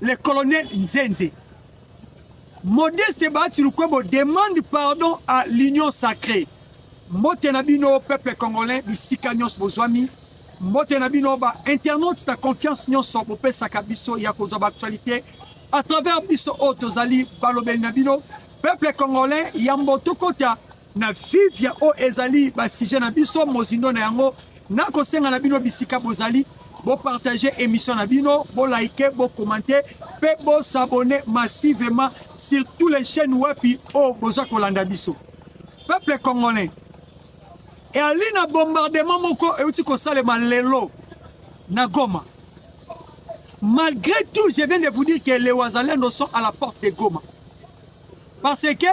Le colonel Nzenze. Modeste Bahati Lukwebo demande pardon à l'union sacrée. Mbote na bino peuple congolais bisika nyonso bozwami. Mbote na bino ba internautes na confiance nyonso bopesaka biso ya kozwa ba actualité à travers biso oyo tozali balobeli na bino peuple congolais yambo tokota na Vivia oyo ezali basije na biso mozindo na yango nakosenga na bino bisika bozali bopartage émission na bino bolike bokomante mpe bosabone massivement sur tous les chaînes wapi oyo boza kolanda biso peuple congolais eyali na bombardement moko euti kosalema lelo na goma malgré tout je viens de vous dire que les wazalendo sont à la porte de goma parce que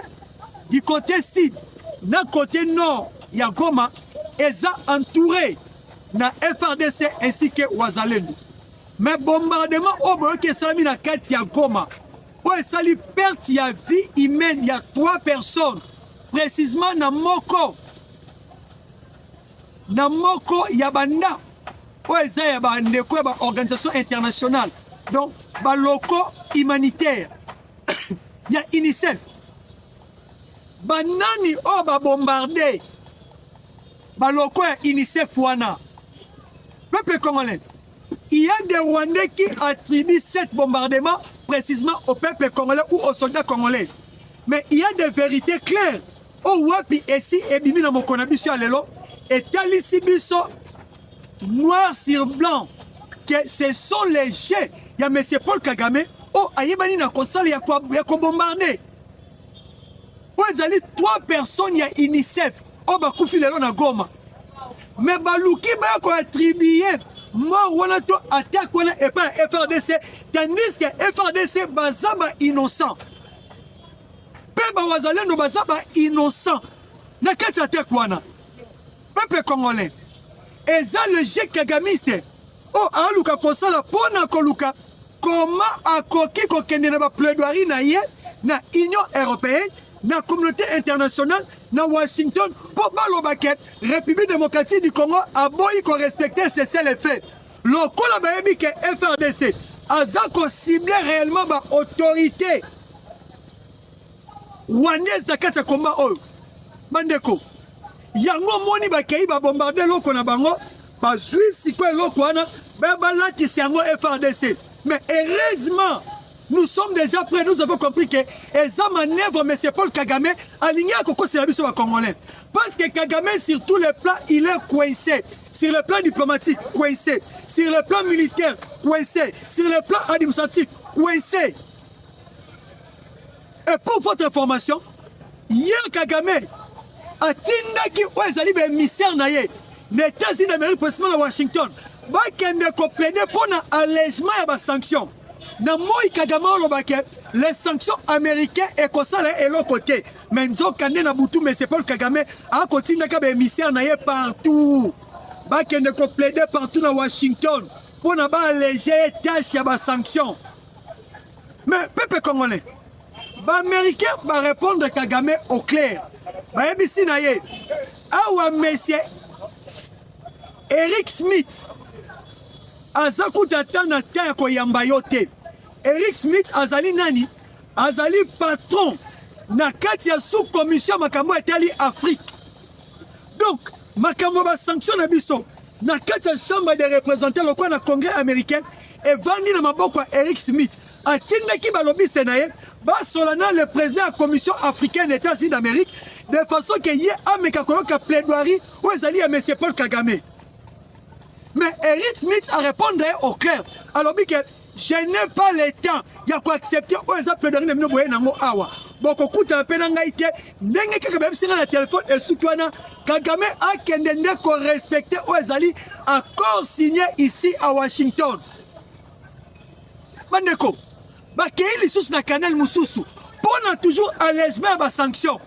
du côté sud na côté nord ya Goma eza entouré na FRDC ainsi que Wazalendo. Mais bombardement oyo boyoki esalami na kati ya Goma oyo esali perte ya vie humaine ya 3 personnes précisément na moko na moko ya bandako oyo eza ya bandeko ya baorganisation internationale donc baloko humanitaire ya UNICEF banani oyo babombarde baloko ya UNICEF wana peuple congolais il y a des Rwandais qui attribuent cet bombardement précisément au peuple congolais ou aux soldats congolais mais il y a des vérités claires oyo wapi esi ebimi na mokolo na biso ya lelo etalisi biso noir sur blanc que ce sont les jeux ya monsieur paul kagame oyo ayebani na kosala ya kobombarde oyo ezali trois personnes ya unicef oyo bakufi lelo na goma me baluki baya koatribue mort wana to attaque wana epai ya frdc tandis que frdc baza ba innocent mpe bawazalendo baza ba innocent na kati ya teke wana peuple congolais eza le jeu kagamiste oyo aluka kosala mpo na koluka koma akoki kokende na baplaidoirie na ye na union européenne na communauté internationale na washington mpo baloba ke république démocratique du congo aboyi korespecte cese le fait lokola bayebi ke frdc aza kocible réellement baautorité rwandaise na kati ya komba oyo bandeko yango omoni bakei babombarde eloko na bango bazwi sikoyo eloko wana baya balatisi yango frdc mais heureusement nous sommes déjà prêts nous avons compris que eza manœuvre monsieur paul kagame alingi akokosela biso bacongolais parce que kagame sur tous les plans il est coincé sur le plan diplomatique coincé sur le plan militaire coincé sur le plan administratif coincé Et pour votre information, hier Kagame atindaki oyo ezali baémissaire na ye na États-Unis d'Amérique, précisément na Washington, bakende koplede mpo na allègement ya basanction na moi Kagame olobaki les sanctions américains ekosala eloko te me nzokande na butu monsieur Paul Kagame akotindaka baémissaire na ye partout bakende koplede partout na Washington mpo na baalege ye tâche ya basanction mais peuple congolais baaméricain barépondre kagame au clair bayebisi na ye awa monsieur eric smith aza kuta ata na ta ya koyamba yo te eric smith azali nani azali patron na kati ya sous-commission makambo etali afrique donc Makambo ba sanction na biso na kati ya chambre des représentants lokola na congrès américain evandi na maboko ya Eric Smith atindaki balobiste na ye basola na le président ya commission africaine états-unis d'amérique de façon ke ye ameka koyoka plaidoirie oyo ezali ya monsieur paul kagame mais Eric Smith a répondre ye au clair alobi ke Je n'ai pas le temps ya ko accepter oyo eza plaidoirie na bino boye nango awa bokokutana mpe na ngai te ndenge kaka bayebisi ngai na telefone esuki wana kagame akende nde korespecte oyo ezali accord signe ici à washington bandeko bakei lisusu na canal mosusu mpo na toujours allègement ya basanction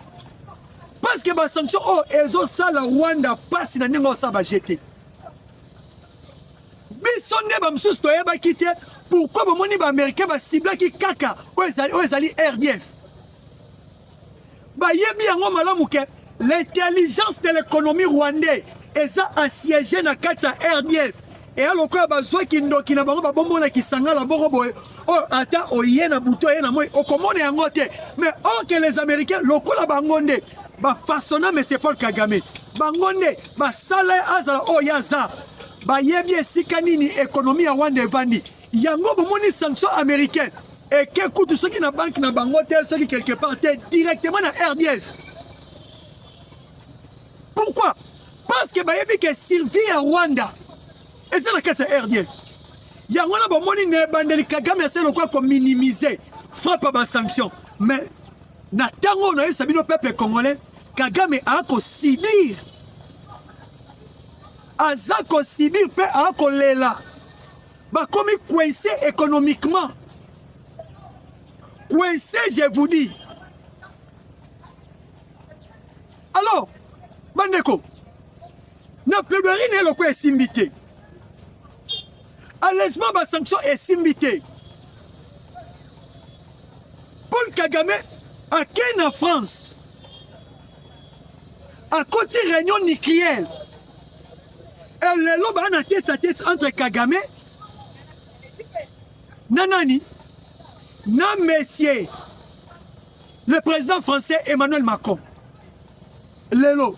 parce que basanction oyo ezosala rwanda mpasi na ndenge osala bajete biso nde bamosusu toyebaki te pourkui bomoni baaméricain basiblaki kaka oyo ezali rdf bayebi yango malamu ke l'intelligence de l'économie rwandais eza assiégé na kati ya rdf eya lokola bazwaki ndoki na bango babombo na kisangala boko boye oyo ata oye na butu oye na moi okomona yango te mais or ke les américains lokola bango nde bafasona monsieur paul kagame bango nde Basala ye azala oyo ye aza. Bayebi esika nini ekonomi ya Rwanda evandi. Yango bomoni sanction américaine eke kutu soki na banki na bango te soki quelque part te directement na RDF. Pourquoi? Parce que bayebi ke survie ya Rwanda eza na kati ya RDF. Yango wana bomoni na ebandeli Kagame asali lokola kominimize frappe ya basanction mais Na tango oyo nayebisa bino peuple congolais, Kagame a ko subir. Aza ko subir pe a ko lela. Ba komi coincé économiquement. Coincé, je vous dis. Alors, bandeko, na plaidoirie na eloko esimbi te. Allègement ba sanction esimbi te. Paul Kagame akei na France akoti réunion nucléaire e lelo baa na tete a tete entre Kagame na nani na monsieur le président français Emmanuel Macron lelo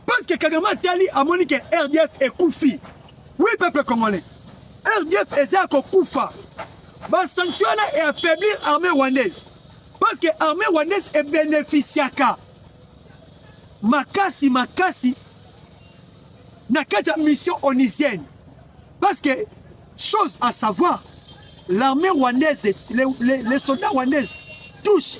Parce que Kagame atali amoni que RDF ekufi. Oui peuple congolais. RDF eza kokufa. Ba sanctions wana e affaiblir armée rwandaise. Parce que armée rwandaise e bénéficiaka makasi makasi na kati ya mission onisienne. Parce que chose à savoir, l'armée rwandaise, les, les, les soldats rwandaises touchent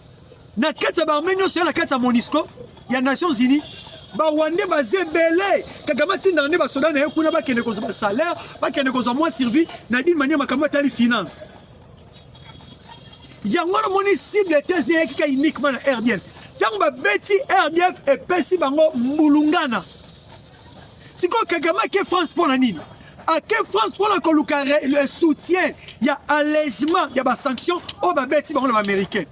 na kati ya baarme nyonso ya na kati ya monisco ya nations unis bawande baza ebele kagame atindaka nde basoda na ye kuna bakende kozwa basalaire bakende kozwa mwa survie na dine mania makambo atali finance yango wana omoni cible tese na eyaki ka uniquement na rdf ntango babeti rdf epesi bango mbulungana Siko Kagame ake France mpo na nini? Ake France mpo na koluka le soutien ya allègement ya ba sanctions oyo babeti bango na ba américain.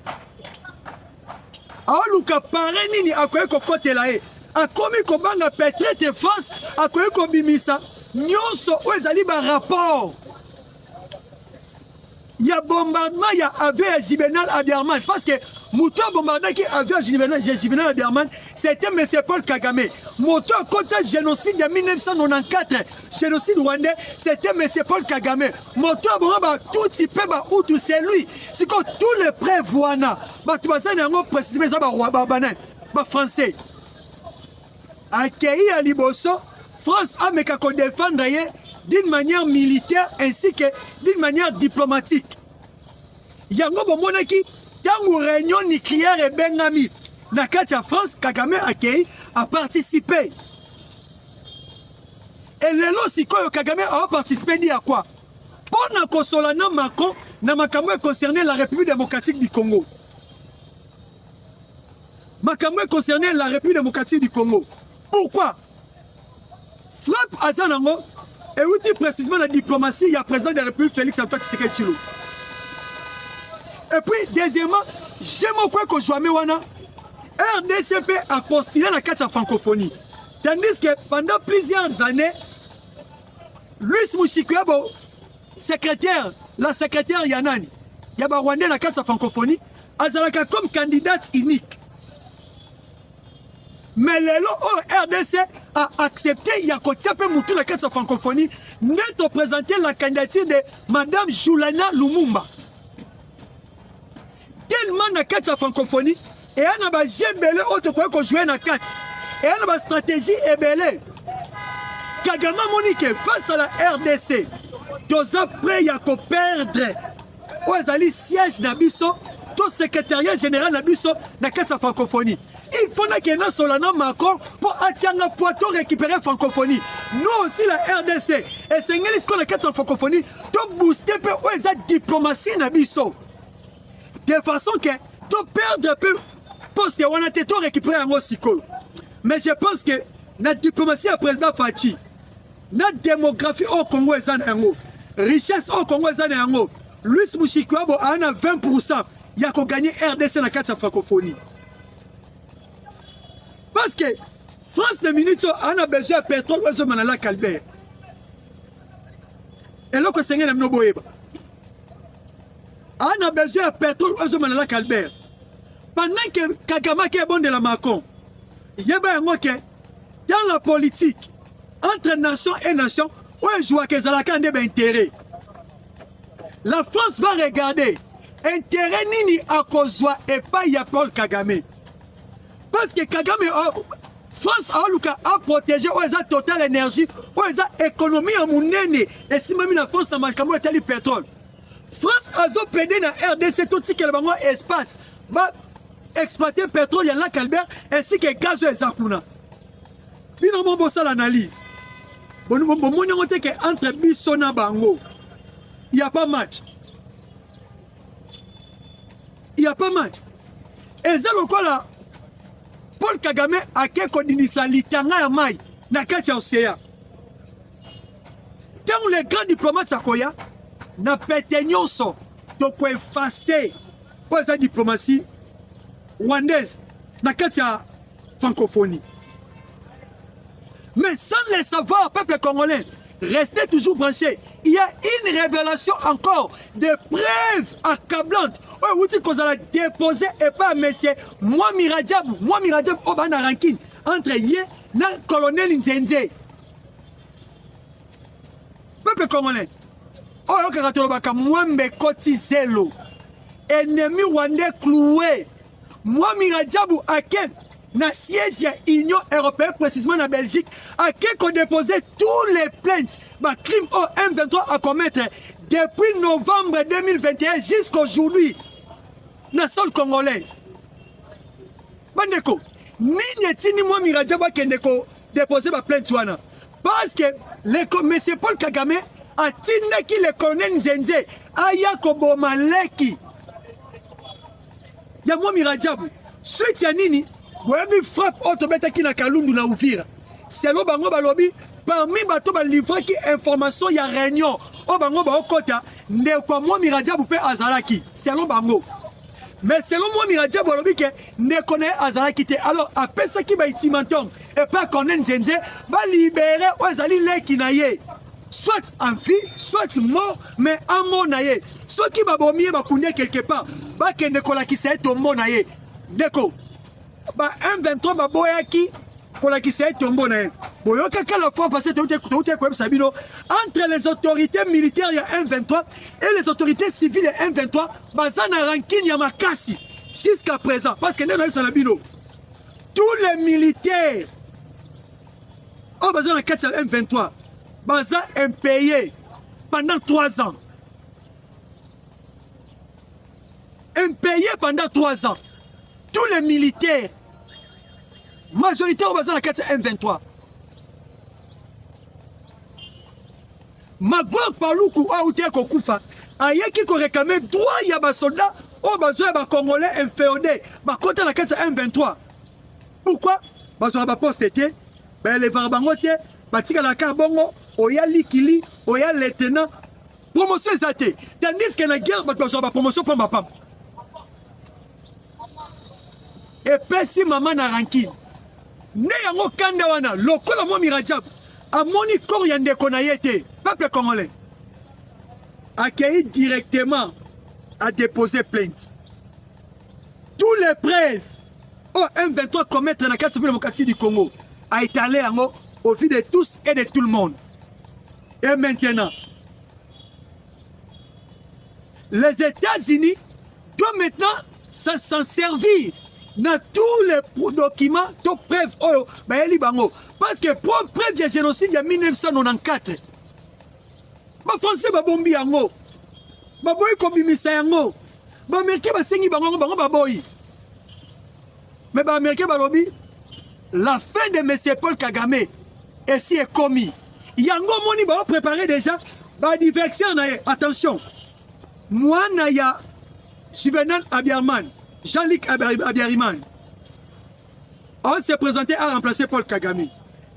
Aoluka pare nini akoki kokotela ye? Akomi kobanga peut-être France akoki kobimisa nyonso oyo ezali ba rapport ya bombardement ya avion ya Juvenal Abiarman parce que moto abombardaki avion ya Juvenal Abiarman c'était monsieur Paul Kagame moto akota génocide ya 1994 génocide rwandais c'était monsieur Paul Kagame moto aboma batutsi mpe bahutu c'est lui sikoyo tous les preuves wana bato baza na yango précisément eza babanani bafrançais Akeyi ya liboso France ameka ko defendre ye d'une manière militaire ainsi que d'une manière diplomatique. Yango bomonaki ntango réunion nucléaire ebengami na kati ya France, Kagame akei a participer. Et lelo sikoyo Kagame a participer dit à quoi? Mpo na kosola na Macron na makambo concerne la République démocratique du Congo. makambo e concerne la République démocratique du Congo. Pourquoi frappe aza nango euti précisément na diplomatie ya président de la République Félix Antoine Tshisekedi Tshilo. Et puis deuxièmement, je moko ekozwame wana RDC mpe apostile na kati ya francophonie tandis que pendant plusieurs années Luis Mushikiwabo secrétaire la secrétaire ya nani ya barwandais na kati ya francophonie azalaka comme candidate unique mais lelo oyo oh, rdc a accepté ya kotia mpe motu na kati ya francophonie nde topresente la candidature de madame julana lumumba tellement na kati ya francophonie eya na baje ebele oyo tokoki kojoue na kati eya na bastratégie ebele kagame amoni ke face à la rdc toza prêt ya koperdre oyo ezali siège na biso to secrétariat général na biso na kati ya francophonie il faut nakende nasola na macron mpo atianga poi to récupérer francophonie no aussi la rdc esengeli sikoyo na kati ya francophonie tobooste mpe oyo eza diplomatie na biso de façon ke toperdre mpe poste wana te to récupérer yango sikoyo mais je pense que na diplomatie ya président faci na demographie oyo Congo eza na yango richesse oyo Congo eza na yango Louis Mushikiwabo aa na 20 pourcent ya koganye rdc na kati ya francophonie parce que france na minute oyo aa na besoin ya petrole oyo ezoma na lac albert eloko esengeli na bino boyeba aa na besoin ya petrole oyo ezoma na lac albert pendant ke kagame ake ebondela macron yeba yango ke dans la politique entre nation et nation oyo ezwaka ezalaka nde baintérêt la france va regarder intérêt nini akozwa epai ya paul kagame parce que kagame oh, france aoluka aprotege oyo eza total énergie oyo eza économie ya monene esimbami na france na makambo etali pétrole France azo plaider na RDC totikela bango espace ba exploiter pétrole ya lac Albert ainsi que gaz oyo eza kuna bino mo bosala analyse bomoni yango te ke entre biso na bango ya pas match ya pas match eza lokola Paul Kagame ake kodinisa litanga ya mai na kati ya ocean ntango le grand diplomate akoya na pete nyonso tokoefase oyo eza diplomatie rwandaise na kati ya francophonie mais sans le savoir peuple congolais restez toujours branché il y a une révélation encore des preuves accablantes oyo euti kozala dépose epai ya monsieur mwami rajab mwami rajab oyo baa na rankine entre ye na colonel nzenze peuple congolais oyo ayokaka tolobaka mwambe ekoti zelo ennemi rwandais cloue mwami rajabu ake na siège ya union européenne précisément na belgique ake kodepose tous les plaintes bacrime oyo m23 acommettre depuis novembre 2021 jusqu'aujourd'hui na sol congolaise bandeko nini etindi mwami rajabu akende ko deposer ba plainte wana parce que le commissaire Paul Kagame atindaki le colonel Nzenze aya koboma leki ya Mwami Rajabu suite ya nini boyebi frappe oyo tobetaki na Kalundu na Uvira selo bango balobi parmi bato balivraki information ya réunion oyo bango baokɔta ndeko ya Mwami Rajabu mpe azalaki selo bango mais selon moi mirajabu alobi ke ndeko na ye azalaki te alors apesaki baitimantonge epai corne nzenze balibere oyo ezali leki na ye soit en vie soit mort mais amona ye soki babomi ye bakundi ye quelque part bakende kolakisa ye tombo na ye ndeko ba M23 baboyaki kolakisa ye tombo na ye boyokaka la fois passé touti koyebisa bino entre les autorités militaires ya M23 et les autorités civiles ya M23 baza na rankine ya makasi jusqu'à présent parce que nde nayebisa na bino tous les militaires oyo baza na kati ya M23 baza impayé pendant 3 ans Impayé pendant 3 ans. Tous les militaires majorité oyo baza na kati ya M23. Magog Paluku oyo auti kokufa ayeki korekame droit ya basoldat oyo bazwa ya bacongolais infeode bakota na kati ya M23. Pourquoi bazwaka baposte te baelevaka bango te batikalaka kaka bongo oya likili oya letena promotion eza te tandis que na guerre bato bazwaka bapromotion pamba pamba epesi mama na rankine nde yango kanda wana lokola mwa mirajab amoni kor ya ndeko na ye te peuple congolais akei directement a déposer plainte tous les preuves oyo oh, m23 commettre na kati mpe na mokati du congo a étale yango au vu de tous et de tout le monde Et maintenant, les États-Unis doivent maintenant s'en servir dans tous les documents, toutes preuves, oh, bah, bango. Parce que pour preuve du génocide de 1994, ba français ba bombi yango baboyi kobimisa yango baamerikain basengi bango yango bango baboyi Mais ba américains balobi la fin de monsieur Paul Kagame esi ekomi. Yango moni ba préparer déjà ba diversion na ye. Attention. Mwana ya Juvenal Abiarman, Jean-Luc Abiariman. On s'est présenté à remplacer Paul Kagame.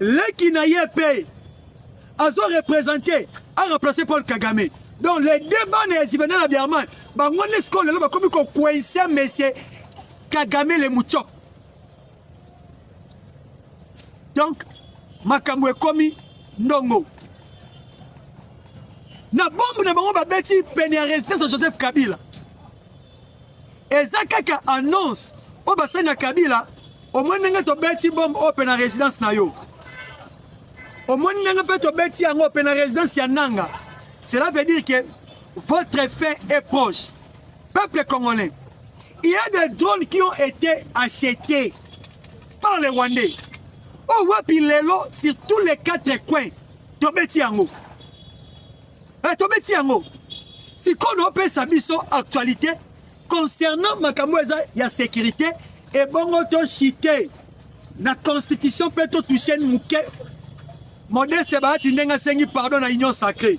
Leki na ye pe azo représenter à remplacer Paul Kagame. Donc les deux bandes ya Juvenal Abiarman, bango nde sikoyo lelo bakomi ko coincer monsieur Kagame le mucho. Donc makambo ekomi ndongo na bombe na bango babeti pene ya residence ya Joseph Kabila eza kaka annonce oyo basali na Kabila omoni ndenge tobeti bombe oyo mpe na residence na yo omoni ndenge mpe tobeti yango mpe na residence ya Nanga cela veut dire que votre fin est proche Peuple congolais, il y a des drones qui ont été achetés par les Rwandais. Oh, wapi lelo sur tous les quatre coins tobeti yango eh, tobeti yango sikoyo naopesa biso actualité concernant makambo eza ya sécurité ebongo toshite na constitution mpe totouche moke modeste baati ndenge asengi pardon na union sacrée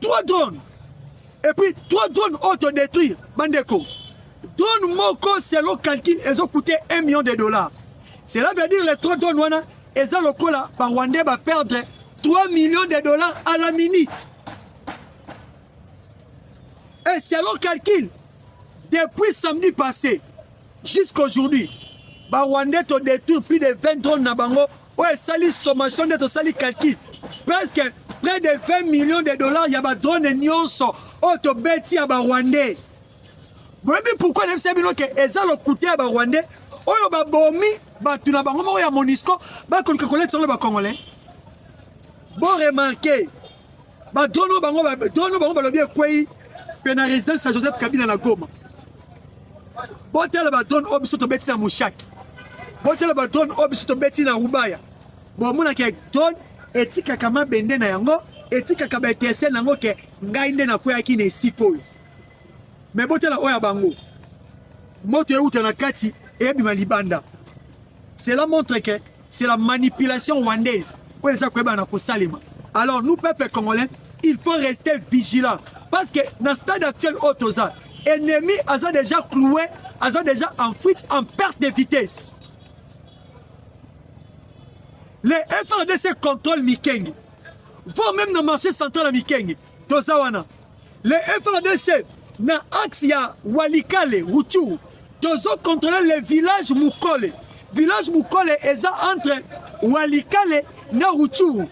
3 drones et puis 3 drones auto détruire bandeko drone moko selon calcul ezo coûter 1 million de dollars cela veut dire les 3 drones wana eza lokola ba rwandais ba perdre 3 millions de dollars à la minute et selon calcul depuis samedi passé jusqu'aujourd'hui ba rwandais to détruire plus de 20 drones na bango oyo esali sommation nde tosali calcul presque près de 20 millions de dollars ya badrone nyonso oyo tobeti ya barwandais boyebi pourkui nayebisa bino ke eza lokuta ya barwandais oyo babomi bato na bango moko ya monisco bakoluka koletisango na bacongolais boremarke ba drone bango ba drone bango balobi ekwei pe na résidence ya Joseph Kabila na Goma botala ba drone oyo biso tobeti na Mushaki botala ba drone oyo biso tobeti na Rubaya bomonaka drone etikaka mabende na yango etikaka ba étincelle na yango ke ngai nde nakweyaki na esika oyo me botala oyo ya bango moto euta na kati eyebima libanda cela montre ke c'est la manipulation rwandaise oyo eza koyeba na kosalema alors nous peuple congolais il faut rester vigilant parce que na stade actuel oyo toza ennemi aza déjà cloué aza déjà en fuite en perte de vitesse les FRDC contrôle Mikenge vont même na marché central ya Mikenge toza wana le FRDC na axe ya Walikale Ruchuru tozo contrôler le village Mukole village Mukole eza entre Walikale na Ruchuru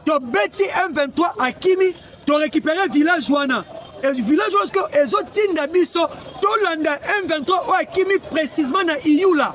tobeti M23 akimi torécupere village wana village wana ezotinda biso tolanda M23 oyo akimi précisement na Iyula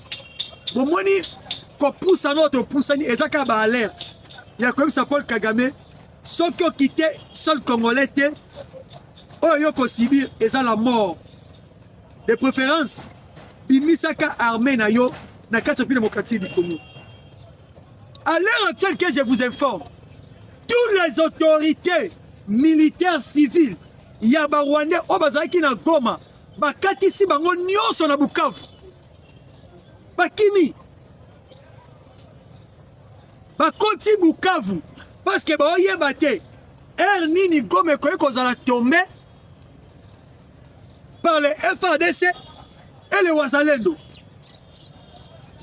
bomoni kopusana oyo topusani eza kaka baalerte ya koyebisa paul kagame soki okite sol congolais te oyo yo kosibir eza la mort de préférence bimisaka armée na yo na kati ya pi démocratique du congo à l'heure actuelle que je vous informe toutes les autorités militaires civiles ya barwandais oyo bazalaki na goma bakatisi bango nyonso na bukavu bakimi bakoti Bukavu paske baoyeba te ere nini Goma ekoki kozala tombe par le FARDC et le Wazalendo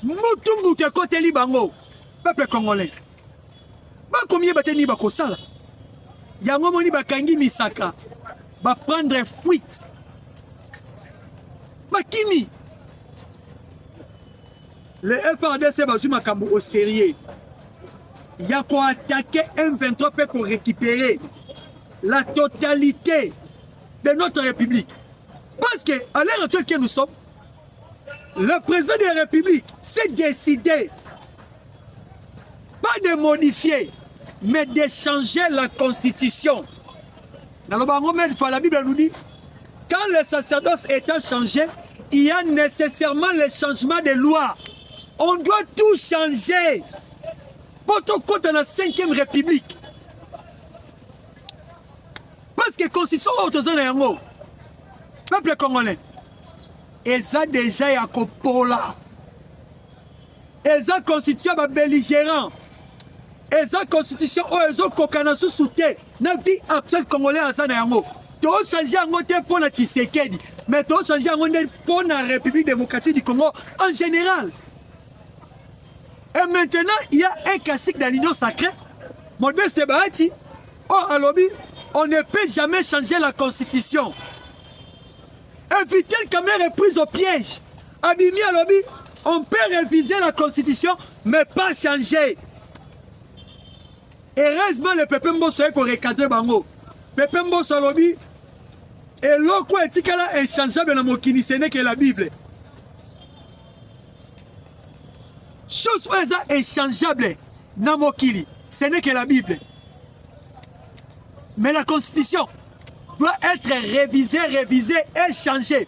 mutu mutu ekoteli bango peuple congolais bakomiyeba te nini bakosala yango moni bakangi misaka baprendre fuite bakimi le frdc bazwi makambo au sérieux ya koatake m23 mpe korécupere la totalité de notre république parce que à l'heure actuelle que nous sommes le président de la république s'est décidé pas de modifier mais de changer la constitution naloba yango mede fois la bible nous dit quand le sacerdoce étant changé il y a nécessairement le changement de loi on doit tout changer mpo tokɔta na 5e république parce que constitution oyo toza na yango peuple congolais eza deja ya kopola eza constitution ya babelligérant eza constitution oyo ezokokana susu te na vie actuelle congolais aza na yango tochange yango te mpo na tshisekedi mais tochange yango nde mpo na république démocratie du congo en général et maintenant il y a un classique dans l'union sacrée modeste bahati oyo oh, alobi on ne peut jamais changer la constitution et vitel kamere prise au piège abimi alobi on peut réviser la constitution mais pas changer heureusement le pepe mboso ye korecadre bango pepe mboso alobi eloko etikala inchangeable na mokili ce n'est que la bible chose oyo eza inchangeable na mokili ce n'est que la bible mais la constitution doit être révisée révisée et changée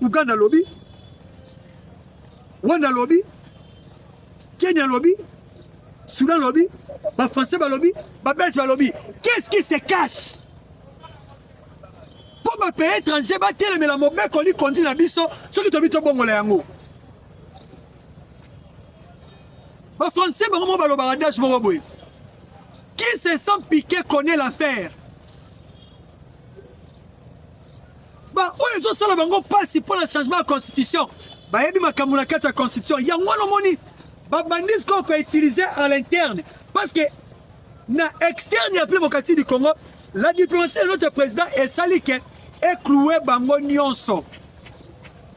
Uganda lobi, Rwanda lobi, Kenya lobi, Soudan lobi, ba Français ba lobi, ba Belge ba lobi. Qu'est-ce qui se cache? Po ba pays étrangers ba telemela mobeko li kondi na biso soki tobi to bongola yango. Ba Français bango mo balobaka dash moko boye. Qui se sent piqué connaît l'affaire. ba oyo ezosala bango mpasi mpo na changement ya constitution bayebi makambo na kati ya constitution yango wana omoni babandi sikoyo koutilize à l'interne parce que na externe ya démocratie du congo la diplomatie de notre président esali ke ekloue bango nyonso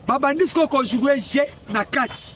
babandi sikoyo kojoue je na kati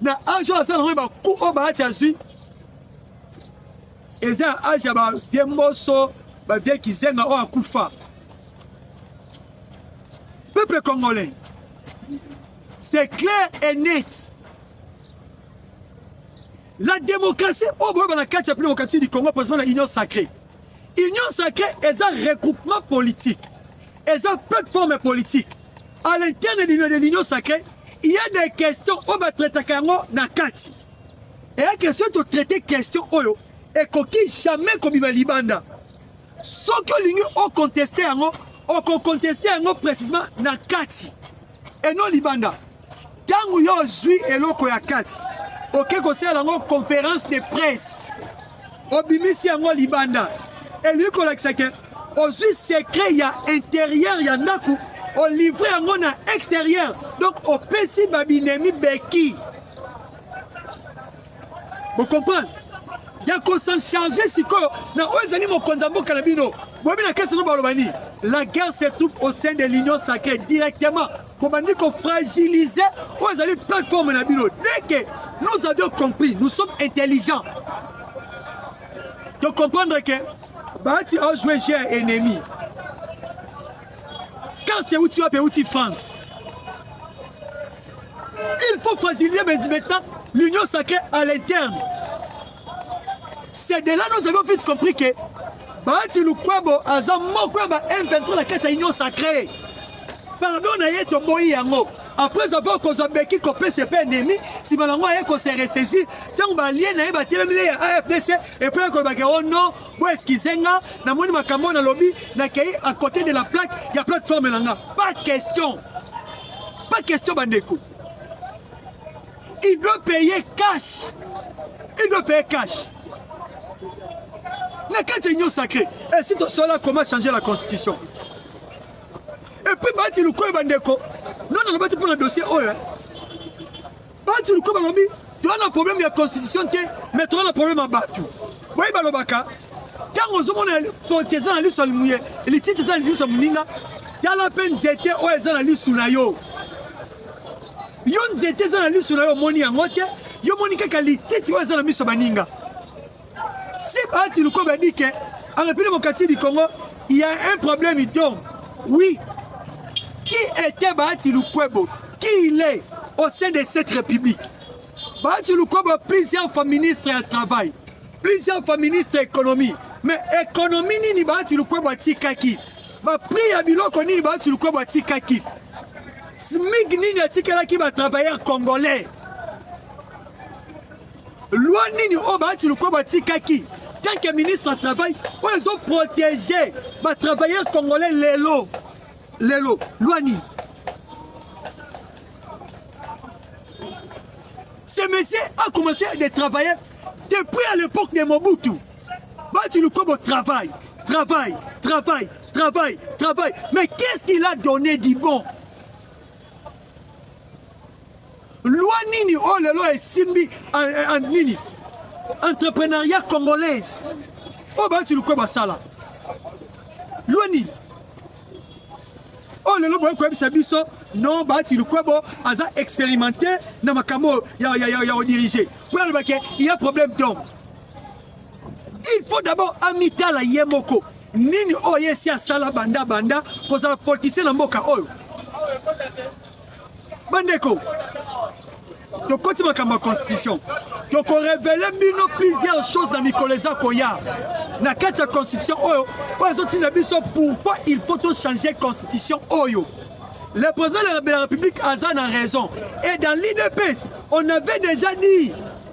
na age oyo aza nango ba ku oyo baati azwi eza ya age ya bavie mboso bavie kizenga oyo akufa peuple congolais c'est clair et net la démocratie oyo boyeba na kati ya mpe démocratie du congo posema na union sacrée union sacrée eza regroupement politique eza plateforme politique à l'interne de l'union sacrée il y a des questions oyo batraitaka yango na kati eya question totraite question oyo ekoki jamais kobima libanda soki olingi okonteste yango okokonteste yango précisement na kati et non libanda ntango yo ozwi eloko ya kati oke kosala yango conference de presse obimisi yango libanda elingi kolakisa ke ozwi secret ya interieur ya ndako olivre yango na exterieur donc opesi babinemi beki bokomprendre ya kosencharge sikoyo na oyo ezali mokonzi ya mboka na bino boyebi na kati yango baloba nini la guerre se trouve au sein de l'union sacrée directement bobandi ko fragiliser oyo ezali plateforme na bino dès que nous avions compris nous sommes intelligents de comprendre que bahati aojoue jeu ya ennemi carte euti wapi euti france il faut fragiliser maintenant l'union sacrée à l'interne C'est de là nous avons vite compris que Bahati Lukwebo aza moko ya ba M23 na kati ya Union Sacrée. Pardon na ye toboyi yango. Après avoir kozwa beki kopesa epai ennemi, nsima na yango aye kose ressaisir ntango balie na ye batelemeli ya AFDC epai ya kolobaka o oh non bo eskize nga namoni makambo oyo nalobi nakei à côté de la plaque ya plateforme na nga. Pas question, pas question bandeko. Il doit payer cash. Il doit payer cash. Na kati ya union sacrée, et si tosola comment changer la constitution. Et puis bati lukoyo bandeko, non na lobati mpona dossier oyo. Bati lukoyo balobi, toza na problème ya constitution te, mais toza na problème ya bato. Boye balobaka, ntango ozomona poti eza na liso ya limuye, lititi eza na liso ya moninga, tala mpe nzete oyo eza na lisu na yo. Yo nzete eza na liso na yo omoni yango te, yo moni kaka lititi oyo eza na miso baninga. Si Bahati Lukobe a dit que en République démocratique du Congo, il y a un problème d'eau. Oui. Qui était Bahati Lukwebo Qui il est au sein de cette République Bahati Lukwebo, plusieurs fois ministre du Travail, plusieurs fois ministre de l'Économie. Mais économie nini Bahati Lukwebo atikaki Ba prix ya biloko nini Bahati Lukwebo atikaki SMIC nini atikelaki ba travailleurs congolais? Loi nini oyo Bahati Lukwebo atikaki tant que ministre ya travail oyo ezo protéger ba travailleurs congolais lelo lelo loi nini? Ce monsieur a commencé de travailler depuis à l'époque de Mobutu. Bahati Lukwebo travail, travail, travail. Travail, travail. Mais qu'est-ce qu'il a donné du bon Loi nini oh le loi esimbi en nini entrepreneuriat congolaise oyo oh, bayoti lukwe basala loi nini oyo oh, lelo boye koyebisa biso non baati lukwebo aza expérimenté na makambo ya, ya, ya, ya odirige mpo alobake il y a problème donc il faut d'abord amitala ye moko nini oyo ye esi asala banda banda kozala politicien na mboka oyo bandeko tokoti makambo ya constitution tokorevele bino plusieurs choses na mikolo eza koya na kati ya constitution oyo oyo ezotinda biso pourquoi il faut tochange constitution oyo le président de la république aza na raison et dans l'idps on avait déjà dit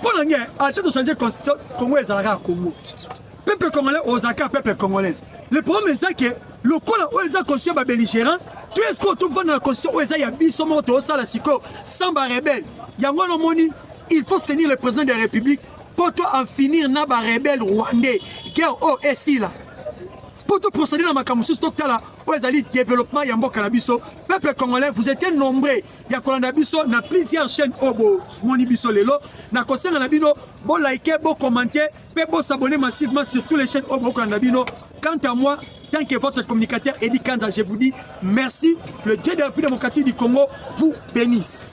mpo na nge ata tochange constitution congo ezalaka ya congo peuple congolais ozalaka peuple congolais le problème eza ke lokola oyo eza constitution ya babelligérant to eske otofanda na constitution oyo eza ya biso moko toosala sikoyo sans barebele yango wana omoni il faut soutenir le président de la république mpo to en finir na barebele rwandais guerre oyo esila mpo toprocéder na makambo mosusu totala oyo ezali développement ya mboka na biso peuple congolais vous étiez nombreux ya kolanda biso na plusieurs chaîne oyo bomoni biso lelo na kosenga na bino bolike bocommente mpe bosabone massivement sur tous les chaînes oyo bokolanda bino quant à moi tant que votre communicateur edi kanza je vous dis merci le dieu de la république démocratique du congo vous bénisse